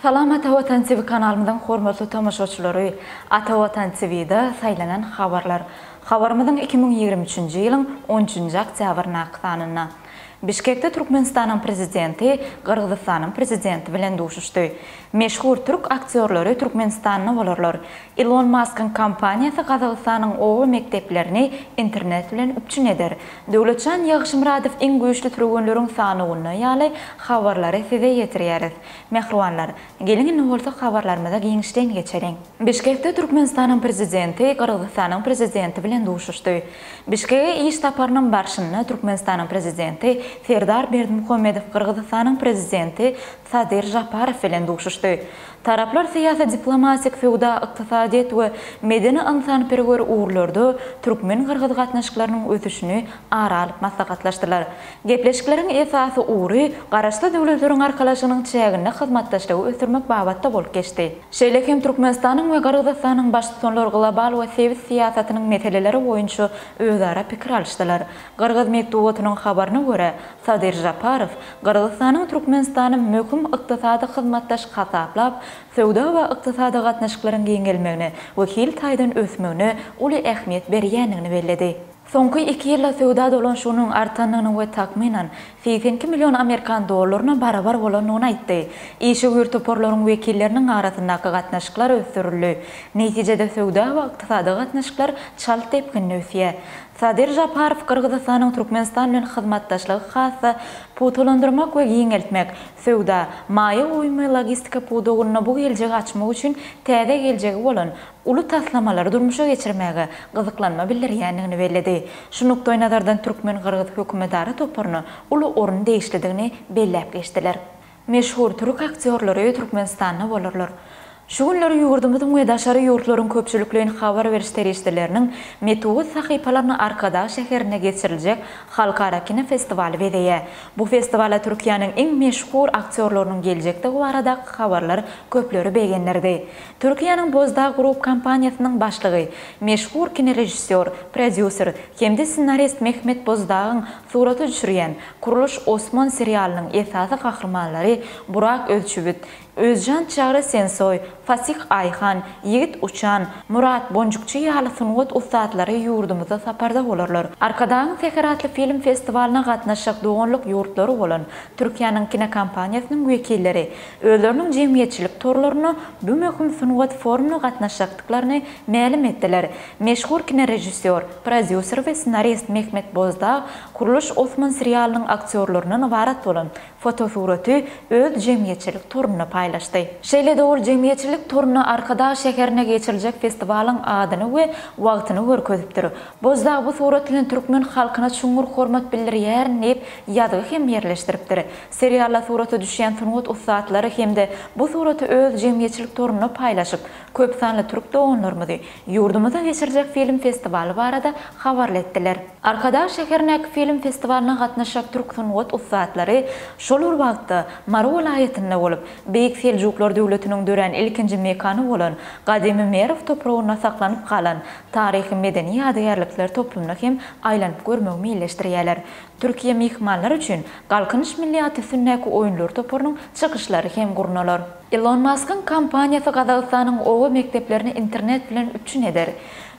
Salam Ata Watan TV kanalymyzyň hormatly tomaşaçylary! Ata Watan TV-da saýlanan habarlar. Habarymyzyň iki müň ýigrimi üçünji ýylyň on üçünji oktýabryndaky sanynda. Bişkekde Türkmenistanyň Prezidenti Gyrgyzystanyň Prezidenti bilen duşuşdy. Meşhur türk aktýorlary Türkmenistanda bolarlar. Ilon Maskyň kompaniýasy Gazagystanyň oba mekdeplerini internet bilen üpjün eder. Döwletjan Ýagşymyradow iň güýçli türgenleriň sanawynda ýaly habarlary size ýetirýäris. Mähribanlar, geliň indi bolsa habarlarymyza giňişden geçeliň. Bişkekde Türkmenistanyň Prezidenti Gyrgyzystanyň Prezidenti bilen duşuşdy. Bişkege iş saparynyň barşynda Türkmenistanyň Prezidenti Serdar Berdimuhamedow Gyrgyzystanyň Prezidenti Sadyr Žaparow bilen duşuşdy. Taraplar syýasy-diplomatik, söwda-ykdysadyýet we medeni-ynsanperwer ugurlarda türkmen-gyrgyz gatnaşyklarynyň ösüşini ara alyp maslahatlaşdylar. Gepleşikleriň esasy ugry Garaşsyz Döwletleriň Arkalaşygynyň çäginde hyzmatdaşlygy ösdürmek babatda bolup geçdi. Şeýle hem Türkmenistanyň we Gyrgyzystanyň Baştutanlar global we sebit syýasatynyň meseleleri boýunça özara pikir alyşdylar. Gyrgyz metbugatynyň habaryna görä, Sadyr Žaparow Gyrgyzystanyň Türkmenistany möhüm ykdysady hyzmatdaş hasaplap, söwda we ykdysady gatnaşyklaryň giňelmegine we hil taýdan ösmegine uly ähmiýet berýändigini belledi. Soňky iki ýylda söwda dolanyşygynyň artandygyny we takmynan, segsen iki million amerikan dollaryna barabar bolandygyny aýtdy. Işewür toparlaryň wekilleriniň arasyndaky gatnaşyklar ösdürildi. Netijede söwda we ykdysady gatnaşyklar çalt depginde ösýär. Sadyr Žaparow Gyrgyzystanyň Türkmenistan bilen hyzmatdaşlygy has-da pugtalandyrmak we giňeltmek, söwda, maýa goýum we logistika pudagynda bu geljegi açmak üçin täze geljegi bolan uly taslamalary durmuşa geçirmäge gyzyklanma bildirýändigini belledi. Şu nukdaýnazardan türkmen-gyrgyz hökümetara toparyna uly orun degişlidigini belläp geçdiler. Meşhur türk aktýorlary Türkmenistanda bolarlar. Şu günler ýurdumyzyň we daşary ýurtlaryň köpçülikleýin habar beriş serişdeleriniň metubut sahypalaryny Arkadag şäherinde geçiriljek halkara kinofestiwaly bezeýär. Bu festiwala Türkiýäniň iň meşhur aktýorlarynyň geljekdigi baradaky habarlar köpleri begendirdi. Türkiýäniň Bozdag Group kompaniýasynyň başlygy, meşhur kinorežissýor, prodýuser hem-de ssenarist Mehmet Bozdagyň surata düşürýän Kuruluş Osman serialynyň esasy gahrymanlary Burak Özçübit, Özjan Çagry Sensoý, Fasih Aýhan, Ýigit Uçan, Murat Bonjukçy ýaly sungat ussatlary ýurdumyzda saparda bolarlar. Arkadagyň Säher atly film festiwalyna gatnaşjak doganlyk ýurtlary bolan Türkiýäniň kinokompaniýasynyň wekilleri özleriniň jemgyýetçilik torlarynda bu möhüm sungat forumyna gatnaşjakdyklaryny mälim etdiler. Meşhur kinorežissýor, prodýuser we ssenarist Mehmet Bozdag Kurluş Osman serialynyň aktýorlaryndan ybarat bolan fotosuraty öz jemgyýetçilik torunda paýlaşdy. Şeýle-de ol jemgyýetçilik toruna Arkadag şäherinde geçiriljek festiwalyň adyny we wagtyny görkezipdir. Bozdag bu surat bilen türkmen halkyna çuňňur hormat bildirýärin diýip, ýazgy hem ýerleşdiripdir. Serialda surata düşýän sungat ussatlary hem-de bu suraty öz jemgyýetçilik torunda paýlaşyp, köpsanly türk doganlarymyzy ýurdumyzda geçiriljek film festiwaly barada habarly etdiler. Arkadag şäherindäki film festiwalyna gatnaşjak türk sungat ussatlary şol bir wagtda Mary welaýatynda bolup, Beýik Seljuklar döwletiniň dörän ilkinji mekany bolan gadymy Merw topragynda saklanyp galan taryhy-medeni ýadygärlikler toplumyna hem aýlanyp görmegi meýilleşdirýärler. Türkiýe myhmanlar üçin Galkynyş milli at üstündäki oýunlar toparynyň çykyşlary hem gurnalar. Ilon Maskyň kompaniýasy Gazagystanyň oba mekdeplerini internet bilen üpjün eder.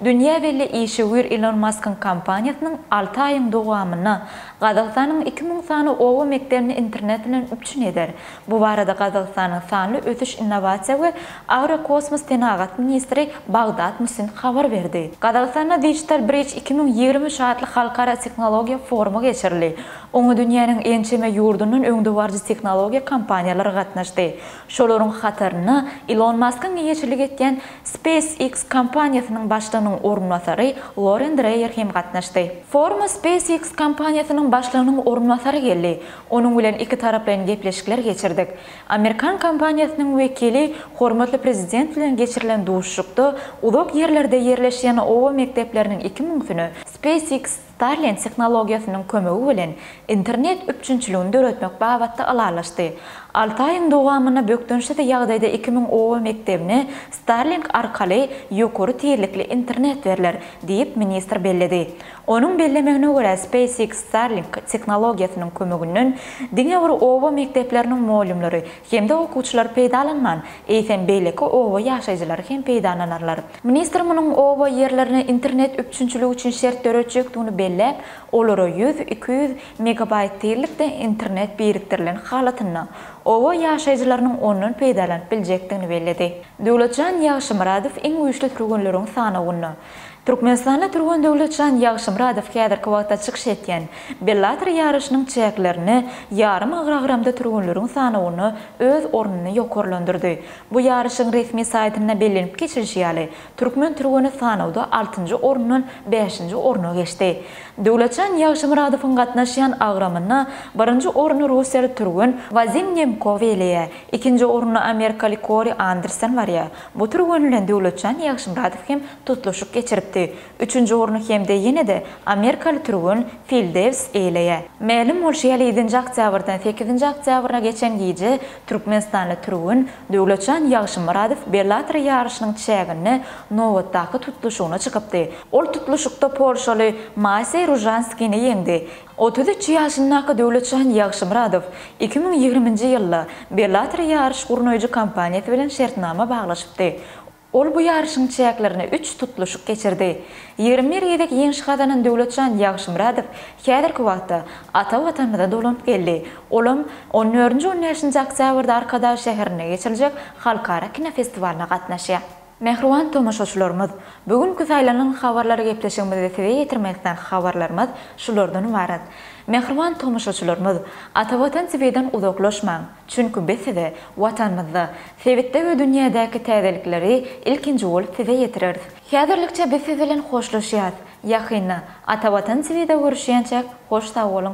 Dünýä belli işewür Ilon Maskyň kompaniýasynyň alty aýyň dowamynda Gazagystanyň iki müň sany oba mekdebini internet bilen üpjün eder. Bu barada Gazagystanyň sanly ösüş innowasiýa we agrokosmos senagat ministri Bagdat Musin habar berdi. Gazagystanda Digital Bridge iki müň ýigrimi üç atly halkara tehnologiýa forumy geçirildi. Oňa dünýäniň ençeme ýurdundan öňdebaryjy tehnologiýa kompaniýalary gatnaşdy. Şolaryň hatarynda Ilon Maskyň eýeçilik etýän SpaceX kompaniýasynyň başlygynyň orunbasary Loren Dreýer hem gatnaşdy. Foruma SpaceX kompaniýasynyň başlygynyň orunbasary geldi. Onuň bilen ikitaraplaýyn gepleşikler geçirdik. Amerikan kompaniýasynyň wekili hormatly Prezident bilen geçirilen duşuşykda uzak ýerlerde ýerleşýän oba mekdepleriniň iki müňüsine SpaceX Starlink tehnologiýasynyň kömegi bilen internet üpjünçiligini döretmek babatda ylalaşdy. Alty aýyň dowamynda bökdençsiz ýagdaýda iki müň oba mekdebine Starlink arkaly ýokary tizlikli internet berler, diýip, ministr belledi. Onuň bellemegine görä, SpaceX Starlink tehnologiýasynyň kömeginden diňe bir oba mekdepleriniň mugallymlary hem-de okuwçylar peýdalanman, eýsem beýleki oba ýaşaýjylary hem peýdalanarlar. Ministr munuň oba ýerlerine internet üpjünçiligi üçin şert döretjekdigini belläp, olara ýüz, iki ýüz megabaýt tizlikde internet birikdirilen halatynda, oba ýaşaýjylarynyň ondan peýdalanyp biljekdigini belledi. Döwletjan Ýagşymyradow iň güýçli türgenleriň sanawynda, Türkmenistanly türgen Döwletjan Ýagşymyradow häzirki wagtda çykyş etýän Bellator ýaryşynyň çäklerinde ýarym agragramda türgenleriň sanawynda öz ornuny ýokarlandyrdy. Bu ýaryşyň resmi saýtynda bellenip geçilişi ýaly, türkmen türgeni sanawda altynjy orundan bäşinji orna geçdi. Döwletjan Ýagşymyradowyň gatnaşýan agramynda birinji orny russiýaly türgen Wazim Nemkow eýeleýär, ikinji orunda amerikaly Kori Anderson barýar, Bu türgen bilen Döwletjan Ýagşymyradow hem tutluşyk geçiripdi. Üçünji orny hem-de ýene-de amerikaly türgen Fil Dewis eýeleýär. Mälim bolşy ýaly, ýedinji oktýabrdan sekizinji oktýabra geçen gije türkmenistanly türgen Döwletjan Ýagşymyradow Bellator ýaryşynyň çäginde nobatdaky tutluşygyna çykypdy. Ol tutluşykda polşaly Maseý Ružanskini ýeňdi. Otuz üç ýaşyndaky Döwletjan Ýagşymyradow iki müň ýigriminji ýylda Bellator ýaryş gurnaýjy kompaniýasy bilen şertnama baglaşypdy. Ol bu ýaryşyň çäklerinde üç tutluşyk geçirdi. Ýigrimi bir gezek ýeňiş gazanan Döwletjan Ýagşymyradow häzirki wagtda ata Watanymyza dolanyp geldi, olam on dördünji-on bäşinji oktýabrda Arkadag şäherinde geçiriljek halkara kinofestiwalyna gatnaşýar. Mähriban tomaşaçylarymyz, bu günki saýlanyň habarlary gepleşigimizde size ýetirmek islan habarlarymyz şulardan ybarat. Mähriban tomaşaçylarymyz, ata Watan TV'den uzaklaşmaň, çünki biz size Watanymyzda, sebitde we dünýädäki täzelikleri ilkinji bolup size ýetireris. Häzirlikçe biz siz bilen hoşlaşýas, ýakynda ata Watan TV'de görüşýänçäk hoş sag boluň.